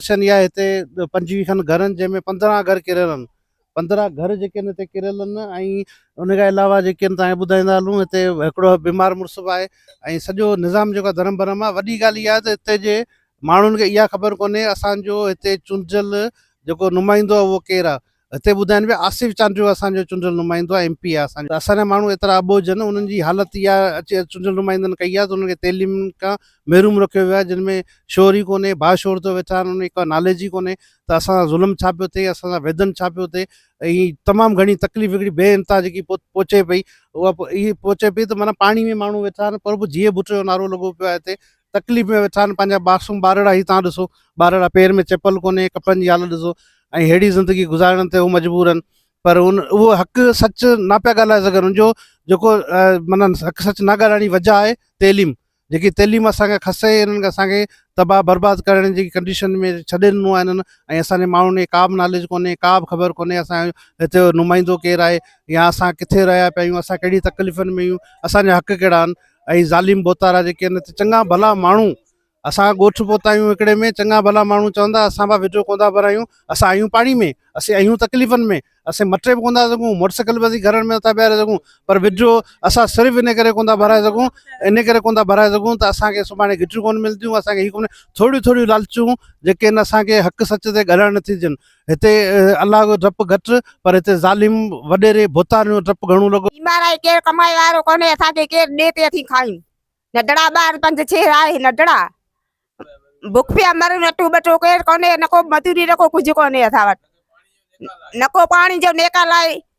Section اها هتي پنجويهه کن گهر ان جنهن ۾ پندرهن گهر ڪريل ان پندرهن گهر جيڪي ان هتي ڪريل ان ۽ ان کان علاوه جيڪي ان تهان کي ٻڌائيندا هلون هتي هڪڙو بيمار مڙس به آهي ۽ سڄو نظام جيڪو درم برم آهي وڏي ڳالهه اها آهي ته هتي جي ماڻهن کي اها خبر ڪونهي اسان جو هتي چونڊجل جيڪو نمائندو آهي اهو ڪير آهي هتي ٻڌائين پيا آصف چانڊيو اسان جو چونڊيل نمائندو آهي ايم پي آهي اسان جو اسان جا ماڻهو ايترا اٻوجهه آهن انهن جي حالت اها اچي چونڊيل نمائندن ڪئي آهي ته انهن کي تعليم کان محروم رکيو ويو آهي جن ۾ شعور ئي ڪونهي باشعور ٿيو ويٺا آهن انهن کي ڪا ناليج ئي ڪونهي ته اسان سان ظلم ڇا پيو ٿئي اسان سان ويڌن ڇا پيو ٿئي ۽ تمام گهڻي تڪليف هڪڙي بي انتها جيڪي پهچي پئي اها پهچي پئي ته معنيٰ پاڻي ۾ ماڻهو ويٺا آهن پر به جيئي ڀٽ جو نعرو لڳو پيو آهي هتي تڪليف ۾ ويٺا آهن پنهنجا معصوم ٻارڙا هي تان ڏسو ٻارڙا پير ۾ چپل ڪونهي ڪپڙن جي حالت ڏسو ۽ ههڙي زندگي گذارڻ تي هو مجبور آهن پر ان اهو حق سچ نه پيا ڳالهائي سگهن ان جو جيڪو مانا حق سچ نه ڳالهائڻ جي وجه آهي تعليم جيڪي تعليم اسانکي کسي انهن کي اسانکي تباهه برباد ڪرڻ جي ڪنڊيشن ۾ ڇڏي ڏنو آهن ۽ اسانجي ماڻهن کي ڪا به ناليج ڪونهي ڪا به خبر ڪونهي اسان هتي نمائندو ڪير آهي يا اسان ڪٿي رهيا پيا آهيون اسان ڪهڙي تڪليفن ۾ آهيون اسانجا حق ڪهڙا آهن اهي ظالم بوتارا جيڪي آهن ته چڱا ڀلا ماڻهو اسان ڳوٺ پهتا آهيون هڪڙي ۾ چڱا ڀلا ماڻهو چوندا اسان پاڻ وڊيو ڪوندا بنايون اسان آهيون پاڻي ۾ اسين آهيون تڪليفن ۾ اسين مٽي به ڪوندا سگھون موٽر سائيڪل به اسين گھرن ۾ نٿا بيهاري سگھون پر وڊيو اسان صرف ان ڪري ڪوندا بھرائي سگھون ان ڪري ڪوندا بھرائي سگھون ته اسانکي سڀاڻي گھٽيون ڪون ملديون اسانکي هي ڪون ٿوريون ٿوريون لالچون جيڪي ان اسانکي حق سچ تي ڳالھائڻ نٿي ڏين هتي الله جو ڊپ گهٽ پر هتي ظالم وڏيري ڀوتارن جو ڊپ گهڻو لڳو. بيمار آهي ڪير ڪمائي وارو ڪونهي اسان کي ڪير ڏي پي اٿي کائين نڍڙا ٻار پنج ڇهه آهي نڍڙا بک پيا مرون اٽو ٻٽو ڪير ڪونهي نه ڪو مزوري نه ڪو ڪجهه ڪونهي اسان وٽ نه ڪو پاڻي جو نيڪال آهي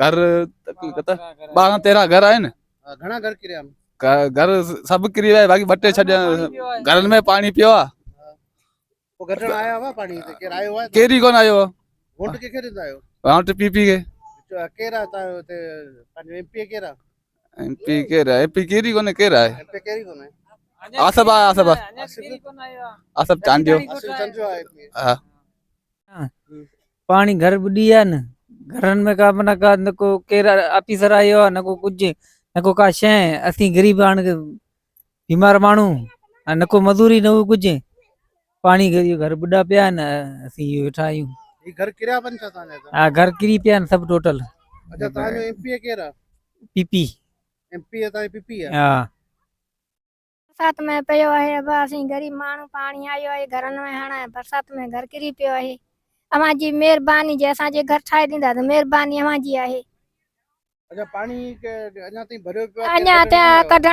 گهر ٻارهن تيرهن گهر آهن گهر سڀ ڪري ويا باقي ٻه ٽي ڇڏيا گهرن ۾ پاڻي پيو آهي ڪيري ڪون آيو ووٽ پي پي کي ايم پي ڪير آهي ايم پي ڪير ئي ڪونهي ڪير آهي آصف آهي آصف آصف چانڊيو پاڻي گهر ٻڏي ويا آهن گهرن ۾ ڪا معنيٰ ڪا نه ڪو ڪير آفيسر آيو آهي نه ڪو ڪجهه نه ڪو ڪا شي اسين غريب هاڻ بيمار ماڻهو ۽ نه ڪو مزوري نه هو ڪجهه پاڻي گهر گهر ٻڏا پيا آهن اسين اهي ويٺا آهيون هي گهر ڪريا پن ڇا تان جا ها گهر ڪري پيا آهن سڀ ٽوٽل اچا تان جو ايم پي ڪير آ پي پي ايم پي تان پي پي آ ها برسات ۾ پيو آهي ابا اسين غريب ماڻهو پاڻي آيو آهي گهرن ۾ هاڻ برسات ۾ گهر ڪري پيو آهي اوهان جي مهرباني جي اسان جي گهر ٺاهي ڏيندا ته مهرباني اوهان جي آهي اڃا پاڻي اڃا تائين ڀريو پيو آهي اڃا تائين ڪڍڻ